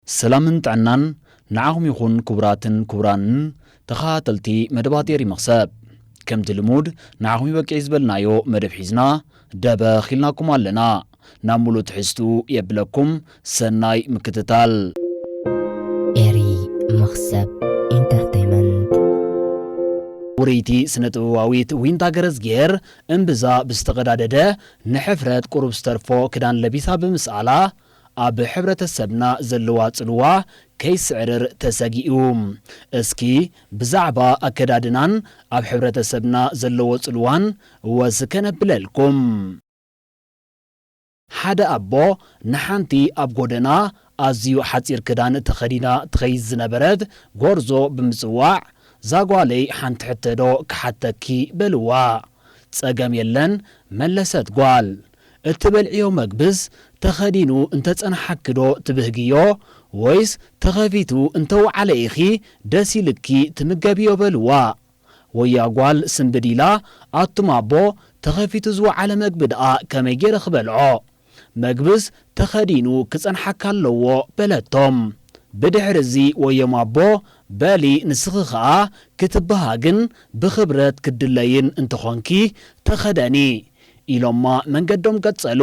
ሰላምን ጥዕናን ንዓኹም ይኹን ክቡራትን ክቡራንን ተኸታተልቲ መደባት ኤሪ መኽሰብ። ከምቲ ልሙድ ንዓኹም ይበቅዒ ዝበልናዮ መደብ ሒዝና ደበኽ ኢልናኩም ኣለና። ናብ ሙሉእ ትሕዝትኡ የብለኩም ሰናይ ምክትታል። ኤሪ መኽሰብ ኢንተርተይመንት። ውርይቲ ስነ ጥበባዊት ዊንታ ገረዝጊሄር እምብዛ ብዝተቐዳደደ ንሕፍረት ቁሩብ ዝተርፎ ክዳን ለቢሳ ብምስኣላ ኣብ ሕብረተሰብና ዘለዋ ጽልዋ ከይስዕርር ተሰጊኡ። እስኪ ብዛዕባ ኣከዳድናን ኣብ ሕብረተሰብና ዘለዎ ጽልዋን ወስ ከነብለልኩም። ሓደ ኣቦ ንሓንቲ ኣብ ጎደና ኣዝዩ ሓጺር ክዳን ተኸዲና ትኸይድ ዝነበረት ጎርዞ ብምጽዋዕ፣ ዛጓለይ ሓንቲ ሕቶዶ ክሓተኪ? በልዋ። ጸገም የለን መለሰት ጓል። እትበልዕዮ መግብስ ተኸዲኑ እንተ ጸንሓኪዶ ትብህግዮ ወይስ ተኸፊቱ እንተ ወዓለ ኢኺ ደስ ኢልኪ ትምገብዮ በልዋ። ወያ ጓል ስንብድ ኢላ ኣቱም ኣቦ ተኸፊቱ ዝወዓለ መግቢ ደኣ ከመይ ጌረ ክበልዖ መግብስ ተኸዲኑ ክጸንሓካ ኣለዎ በለቶም። ብድሕርዚ ወዮም ኣቦ በሊ ንስኺ ከኣ ክትበሃግን ብኽብረት ክትድለይን እንተ ኾንኪ ተኸደኒ ኢሎማ መንገዶም ቀጸሉ።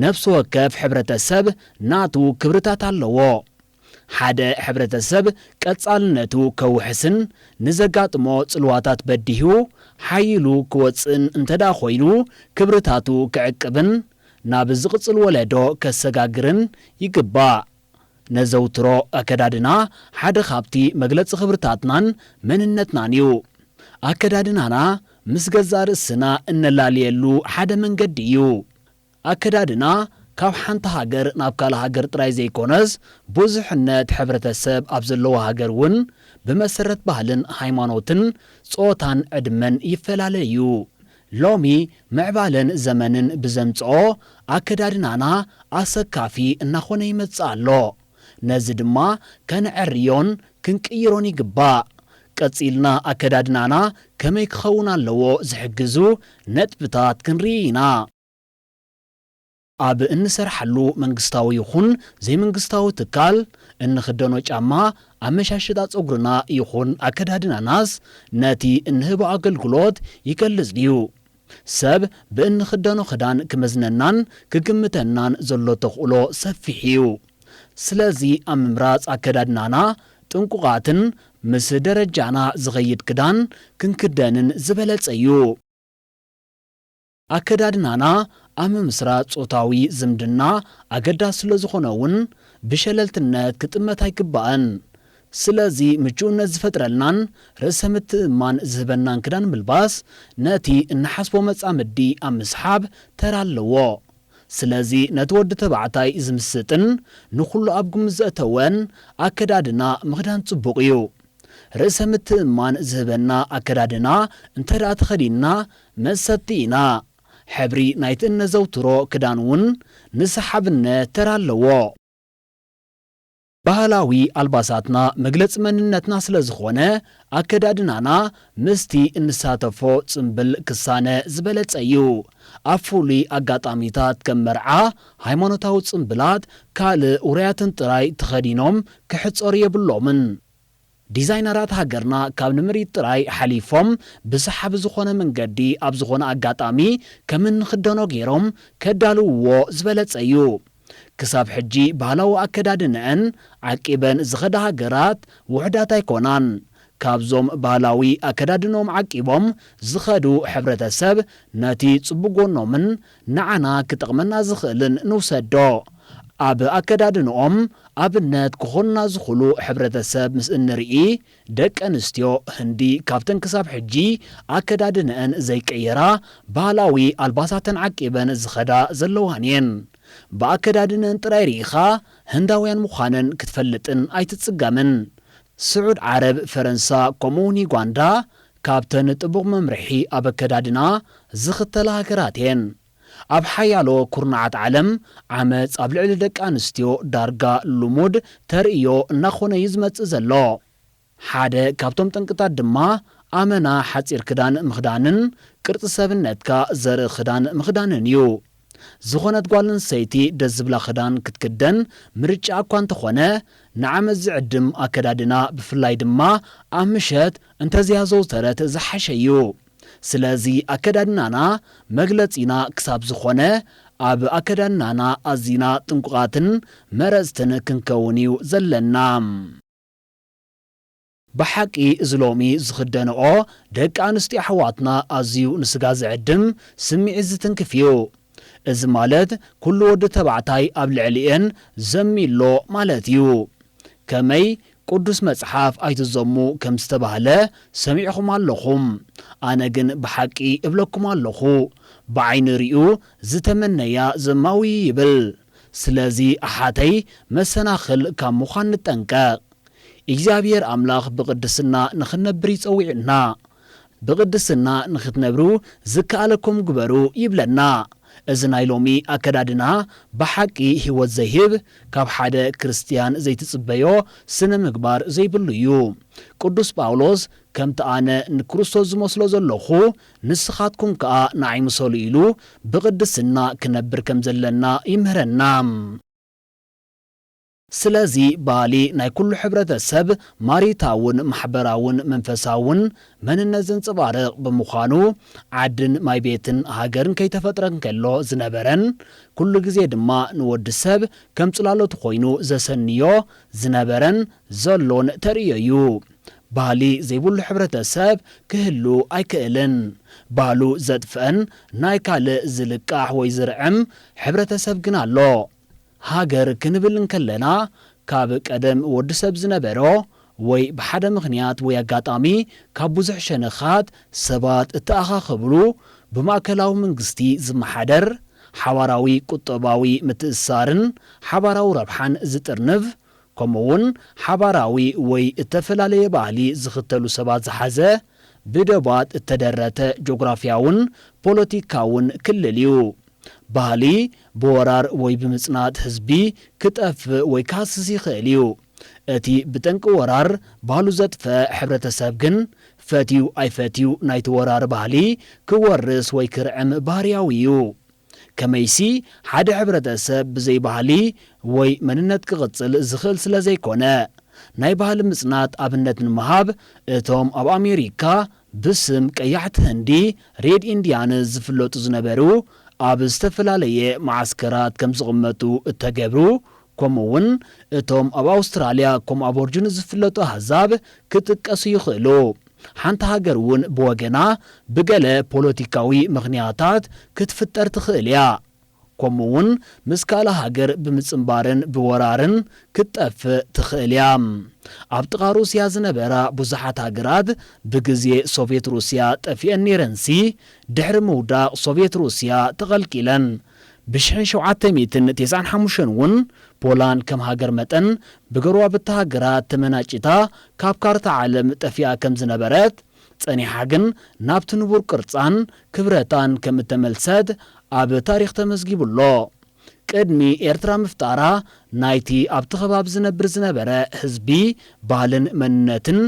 ነፍሲ ወከፍ ሕብረተሰብ ናቱ ክብርታት ኣለዎ። ሓደ ሕብረተሰብ ቀጻልነቱ ከውሕስን ንዘጋጥሞ ጽልዋታት በዲሁ ሓይሉ ክወጽእን እንተድኣ ኮይኑ ክብርታቱ ክዕቅብን ናብ ዝቕጽል ወለዶ ከሰጋግርን ይግባእ። ነዘውትሮ ኣከዳድና ሓደ ካብቲ መግለጺ ክብርታትናን መንነትናን እዩ። ኣከዳድናና ምስ ገዛእ ርእስና እነላልየሉ ሓደ መንገዲ እዩ። ኣከዳድና ካብ ሓንቲ ሃገር ናብ ካልእ ሃገር ጥራይ ዘይኮነስ ብዙሕነት ሕብረተሰብ ኣብ ዘለዎ ሃገር እውን ብመሰረት ባህልን ሃይማኖትን ጾታን ዕድመን ይፈላለ እዩ። ሎሚ ምዕባለን ዘመንን ብዘምጽኦ ኣከዳድናና ኣሰካፊ እናኾነ ይመጽእ ኣሎ። ነዚ ድማ ከነዐርዮን ክንቅይሮን ይግባእ። ቀጺልና ኣከዳድናና ከመይ ክኸውን ኣለዎ ዝሕግዙ ነጥብታት ክንርኢ ኢና። ኣብ እንሰርሓሉ መንግስታዊ ይኹን ዘይመንግስታዊ ትካል፣ እንኽደኖ ጫማ፣ ኣመሻሽጣ ጸጉርና ይኹን ኣከዳድናናስ ነቲ እንህቦ ኣገልግሎት ይገልጽ ድዩ? ሰብ ብእንኽደኖ ክዳን ክመዝነናን ክግምተናን ዘሎ ተኽእሎ ሰፊሕ እዩ። ስለዚ ኣብ ምምራጽ ኣከዳድናና ጥንቁቓትን ምስ ደረጃና ዝኸይድ ክዳን ክንክደንን ዝበለጸ እዩ። ኣከዳድናና ኣብ ምምስራት ጾታዊ ዝምድና ኣገዳሲ ስለ ዝኾነ'ውን ብሸለልትነት ክጥመት ኣይግባእን። ስለዚ ምቹእነት ዝፈጥረልናን ርእሰ ምትእምማን ዝህበናን ክዳን ምልባስ ነቲ እንሓስቦ መጻምዲ ኣብ ምስሓብ ተራ ኣለዎ። ስለዚ ነቲ ወዲ ተባዕታይ ዝምስጥን ንኹሉ ኣብ ግምት ዘእተወን ኣከዳድና ምኽዳን ጽቡቕ እዩ። ርእሰ ምትእምማን ዝህበና ኣከዳድና እንተድኣ ተኸዲንና መሰጥቲ ኢና። ሕብሪ ናይቲ እነዘውትሮ ክዳን እውን ንሰሓብነ ተራ ኣለዎ። ባህላዊ ኣልባሳትና መግለፂ መንነትና ስለ ዝኾነ ኣከዳድናና ምስቲ እንሳተፎ ፅምብል ክሳነ ዝበለፀ እዩ። ኣብ ፍሉይ ኣጋጣሚታት ከም መርዓ ሃይማኖታዊ ፅምብላት ካልእ ውሩያትን ጥራይ ተኸዲኖም ክሕፀሩ የብሎምን። ዲዛይነራት ሃገርና ካብ ንምርኢት ጥራይ ሓሊፎም ብሰሓቢ ዝኾነ መንገዲ ኣብ ዝኾነ ኣጋጣሚ ከም እንኽደኖ ገይሮም ከዳልውዎ ዝበለጸ እዩ። ክሳብ ሕጂ ባህላዊ ኣከዳድነኣን ዓቂበን ዝኸዳ ሃገራት ውሑዳት ኣይኮናን። ካብዞም ባህላዊ ኣከዳድነኦም ዓቂቦም ዝኸዱ ሕብረተሰብ ነቲ ጽቡቕ ጎኖምን ንዓና ክጠቕመና ዝኽእልን ንውሰዶ። ኣብ ኣከዳድንኦም ኣብነት ክኾኑና ዝኽሉ ሕብረተሰብ ምስ እንርኢ፣ ደቂ ኣንስትዮ ህንዲ ካብተን ክሳብ ሕጂ ኣከዳድነኣን ዘይቀየራ ባህላዊ ኣልባሳተን ዓቂበን ዝኸዳ ዘለዋን እየን። ብኣከዳድነን ጥራይ ርኢኻ ህንዳውያን ምዃነን ክትፈልጥን ኣይትጽገምን። ስዑድ ዓረብ፣ ፈረንሳ፣ ከምኡ'ውን ዩጋንዳ ካብተን ጥቡቕ መምርሒ ኣብ ኣከዳድና ዝኽተላ ሃገራት እየን። ኣብ ሓያሎ ኩርናዓት ዓለም፣ ዓመጽ ኣብ ልዕሊ ደቂ ኣንስትዮ ዳርጋ ልሙድ ተርእዮ እናኾነ እዩ ዝመጽእ ዘሎ። ሓደ ካብቶም ጠንቅታት ድማ ኣመና ሓጺር ክዳን ምኽዳንን ቅርጺ ሰብነትካ ዘርኢ ክዳን ምኽዳንን እዩ። ዝኾነት ጓል ኣንስተይቲ ደስ ዝብላ ክዳን ክትክደን ምርጫኣ እኳ እንተኾነ፣ ንዓመት ዝዕድም ኣከዳድና ብፍላይ ድማ ኣብ ምሸት እንተዘይኣዘውተረት ዝሓሸ እዩ። ስለዚ ኣከዳድናና መግለጺና ክሳብ ዝኾነ ኣብ ኣከዳድናና ኣዚና ጥንቁቓትን መረጽትን ክንከውን እዩ ዘለና። ብሓቂ እዚ ሎሚ ዝኽደንኦ ደቂ ኣንስትዮ ኣሕዋትና ኣዝዩ ንስጋ ዝዕድም ስምዒት ዝትንክፍ እዩ። እዚ ማለት ኩሉ ወዲ ተባዕታይ ኣብ ልዕሊኤን ዘሚ ኣሎ ማለት እዩ። ከመይ ቁዱስ መጽሓፍ ኣይትዘሙ ከም ዝተባህለ ሰሚዕኹም ኣለኹም። ኣነ ግን ብሓቂ እብለኩም ኣለኹ ብዓይኒ ሪኡ ዝተመነያ ዘማዊ እዩ ይብል። ስለዚ ኣሓተይ መሰናኽል ካብ ምዃን ንጠንቀቅ። እግዚኣብሄር ኣምላኽ ብቕድስና ንኽንነብር እዩ ጸዊዑና። ብቕድስና ንኽትነብሩ ዝከኣለኩም ግበሩ ይብለና። እዚ ናይ ሎሚ ኣከዳድና ብሓቂ ህይወት ዘይህብ፣ ካብ ሓደ ክርስትያን ዘይትጽበዮ ስነ ምግባር ዘይብሉ እዩ። ቅዱስ ጳውሎስ ከምቲ ኣነ ንክርስቶስ ዝመስሎ ዘለኹ ንስኻትኩም ከኣ ንዓይ ምሰሉ ኢሉ ብቕድስና ክነብር ከም ዘለና ይምህረና። ስለዚ ባህሊ ናይ ኩሉ ሕብረተሰብ ማሪታውን ማሕበራውን መንፈሳውን መንነት ዘንጸባርቕ ብምዃኑ ዓድን ማይ ቤትን ሃገርን ከይተፈጥረ እንከሎ ዝነበረን ኩሉ ግዜ ድማ ንወዲ ሰብ ከም ጽላሎቱ ኮይኑ ዘሰንዮ ዝነበረን ዘሎን ተርእዮ እዩ። ባህሊ ዘይብሉ ሕብረተሰብ ክህሉ ኣይክእልን። ባህሉ ዘጥፍእን ናይ ካልእ ዝልቃሕ ወይ ዝርዕም ሕብረተሰብ ግን ኣሎ። ሃገር ክንብል እንከለና ካብ ቀደም ወዲ ሰብ ዝነበሮ ወይ ብሓደ ምኽንያት ወይ ኣጋጣሚ ካብ ብዙሕ ሸነኻት ሰባት እተኣኻኸብሉ ብማእከላዊ መንግስቲ ዝመሓደር ሓባራዊ ቁጠባዊ ምትእስሳርን ሓባራዊ ረብሓን ዝጥርንፍ ከምኡ'ውን ሓባራዊ ወይ እተፈላለየ ባህሊ ዝኽተሉ ሰባት ዝሓዘ ብዶባት እተደረተ ጆግራፍያውን ፖለቲካውን ክልል እዩ። ባህሊ ብወራር ወይ ብምጽናት ህዝቢ ክጠፍእ ወይ ክሃስስ ይኽእል እዩ። እቲ ብጠንቂ ወራር ባህሉ ዘጥፈ ሕብረተሰብ ግን ፈትዩ ኣይፈትዩ ናይቲ ወራሪ ባህሊ ክወርስ ወይ ክርዕም ባህርያዊ እዩ። ከመይሲ ሓደ ሕብረተሰብ ብዘይ ባህሊ ወይ መንነት ክቕጽል ዝኽእል ስለዘይኮነ። ናይ ባህሊ ምጽናት ኣብነት ንምሃብ እቶም ኣብ ኣሜሪካ ብስም ቀያሕቲ ህንዲ፣ ሬድ ኢንዲያንስ፣ ዝፍለጡ ዝነበሩ፣ ኣብ ዝተፈላለየ መዓስከራት ከም ዝቕመጡ እተገብሩ፣ ከምኡውን እቶም ኣብ ኣውስትራልያ ከም ኣቦርጅንስ ዝፍለጡ ኣህዛብ ክጥቀሱ ይኽእሉ። ሓንቲ ሃገር እውን ብወገና ብገለ ፖለቲካዊ ምኽንያታት ክትፍጠር ትኽእል ኢያ። ከምኡ እውን ምስ ካልእ ሃገር ብምጽንባርን ብወራርን ክትጠፍእ ትኽእል እያ። ኣብ ጥቓ ሩስያ ዝነበራ ብዙሓት ሃገራት ብግዜ ሶቭየት ሩስያ ጠፊኤን ነይረንሲ ድሕሪ ምውዳቕ ሶቭየት ሩስያ ተቐልቂለን። ብሽሕን ሸውዓተ ሚእትን ቴስዓን ሓሙሽተን እውን ፖላንድ ከም ሃገር መጠን ብገረባብቲ ሃገራት ተመናጪታ ካብ ካርታ ዓለም ጠፊኣ ከም ዝነበረት ጸኒሓ ግን ናብቲ ንቡር ቅርጻን ክብረታን ከም እተመልሰት ኣብ ታሪኽ ተመዝጊቡ ኣሎ። ቅድሚ ኤርትራ ምፍጣራ ናይቲ ኣብቲ ከባቢ ዝነብር ዝነበረ ህዝቢ ባህልን መንነትን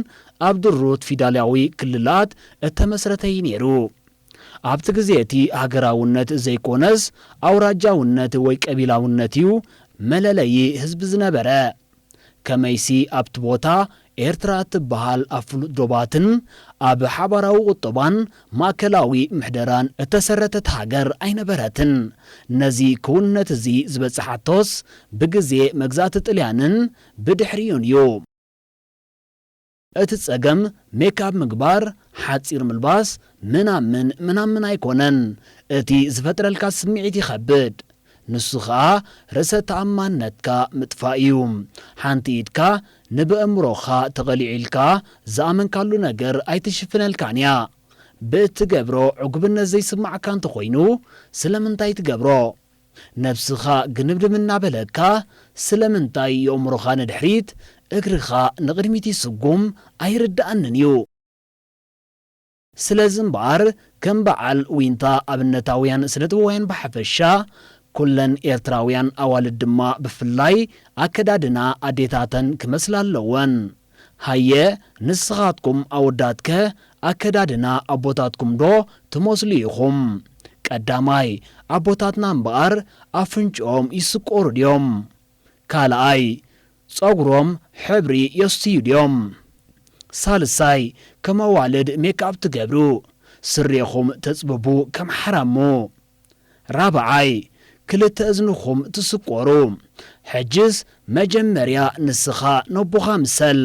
ኣብ ድሩት ፊዳልያዊ ክልላት እተመስረተ እዩ ነይሩ። ኣብቲ ግዜ እቲ ሃገራውነት ዘይኮነስ ኣውራጃውነት ወይ ቀቢላውነት እዩ መለለዪ ህዝቢ ዝነበረ። ከመይሲ ኣብቲ ቦታ ኤርትራ እትበሃል ኣብ ፍሉጥ ዶባትን ኣብ ሓባራዊ ቁጠባን ማእከላዊ ምሕደራን እተሰረተት ሃገር ኣይነበረትን። ነዚ ክውንነት እዚ ዝበጸሓቶስ ብግዜ መግዛእቲ ጥልያንን ብድሕሪኡን እዩ። እቲ ጸገም ሜክኣብ ምግባር፣ ሓጺር ምልባስ፣ ምናምን ምናምን ኣይኮነን። እቲ ዝፈጥረልካ ስምዒት ይኸብድ። ንሱ ከኣ ርእሰ ተኣማንነትካ ምጥፋእ እዩ። ሓንቲ ኢድካ ንበእምሮኻ ተቐሊዑ ኢልካ ዝኣመንካሉ ነገር ኣይትሽፍነልካን እያ። ብእትገብሮ ዕጉብነት ዘይስማዓካ እንተኾይኑ ስለምንታይ ትገብሮ? ነብስኻ ግንብድም እናበለካ ስለምንታይ የእምሮኻ ንድሕሪት እግርኻ ንቕድሚት ይስጉም ኣይርደኣንን እዩ። ስለዚ እምበኣር ከም በዓል ዊንታ ኣብነታውያን ስነጥበባውያን ብሓፈሻ ኩለን ኤርትራውያን ኣዋልድ ድማ ብፍላይ ኣከዳድና ኣዴታተን ክመስላ ኣለወን። ሃየ ንስኻትኩም ኣወዳትከ ኣከዳድና ኣቦታትኩም ዶ ትመስሉ ኢኹም? ቀዳማይ ኣቦታትና እምበኣር ኣፍንጭኦም ይስቆሩ ድዮም? ካልኣይ ጸጉሮም ሕብሪ የስትዩ ድዮም? ሳልሳይ ከም ኣዋልድ ሜክኣፕ ትገብሩ? ስሬኹም ተጽብቡ ከም ሓራሙ? ራብዓይ፣ ክልተ እዝንኹም ትስቆሩ። ሕጅስ መጀመርያ ንስኻ ነቦኻ ምሰል።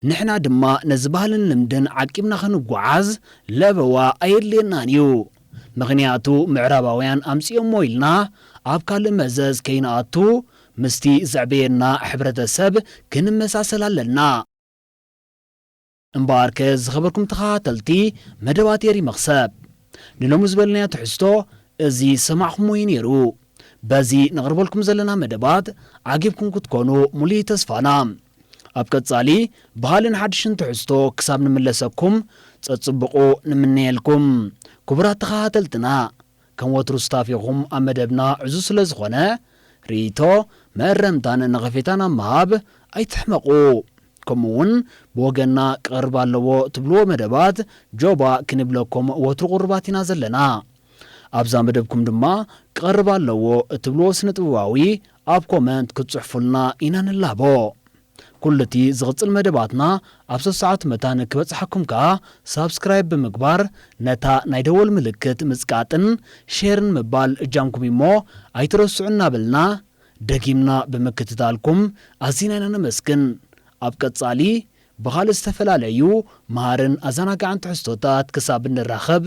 ንሕና ድማ ነዚ ባህልን ልምድን ዓቂብና ክንጓዓዝ ለበዋ ኣየድልየናን እዩ። ምኽንያቱ ምዕራባውያን ኣምጺኦሞ ኢልና ኣብ ካልእ መዘዝ ከይንኣቱ ምስቲ ዘዕበየና ሕብረተሰብ ክንመሳሰል ኣለና። እምበኣርከ ዝኸበርኩም ተኸታተልቲ መደባት ኤሪ መኽሰብ ንሎሚ ዝበልናዮ ትሕዝቶ እዚ ዝሰማዕኹምዎ እዩ ነይሩ። በዚ ነቕርበልኩም ዘለና መደባት ዓጊብኩም ክትኮኑ ሙሉኢ ተስፋና። ኣብ ቀጻሊ ብኻልእን ሓድሽን ትሕዝቶ ክሳብ ንምለሰኩም ጸጽቡቑ ንምነየልኩም ክቡራት ተኸታተልትና። ከም ወትሩ ሱታፌኹም ኣብ መደብና ዕዙዝ ስለ ዝኾነ ርእይቶ፣ መእረምታን ነቐፌታን ኣብ ምሃብ ኣይትሕመቑ። ከምኡ ውን ብወገንና ክቐርብ ኣለዎ ትብልዎ መደባት ጆባ ክንብለኩም ወትሩ ቁሩባት ኢና ዘለና። ኣብዛ መደብኩም ድማ ክቐርብ ኣለዎ እትብልዎ ስነ-ጥበባዊ ኣብ ኮመንት ክትጽሕፉልና ኢና ንላቦ። ኩሉ እቲ ዝቕጽል መደባትና ኣብ ሰሰዓት መታን ክበጽሓኩም ከኣ ሳብስክራይብ ብምግባር ነታ ናይ ደወል ምልክት ምጽቃጥን ሼርን ምባል እጃምኩም እዩሞ ኣይትረስዑ እናበልና ደጊምና ብምክትታልኩም ኣዚና ኢና ነመስግን ኣብ ቀጻሊ ብኻልእ ዝተፈላለዩ መሃርን ኣዛናጋዕን ትሕዝቶታት ክሳብ እንራኸብ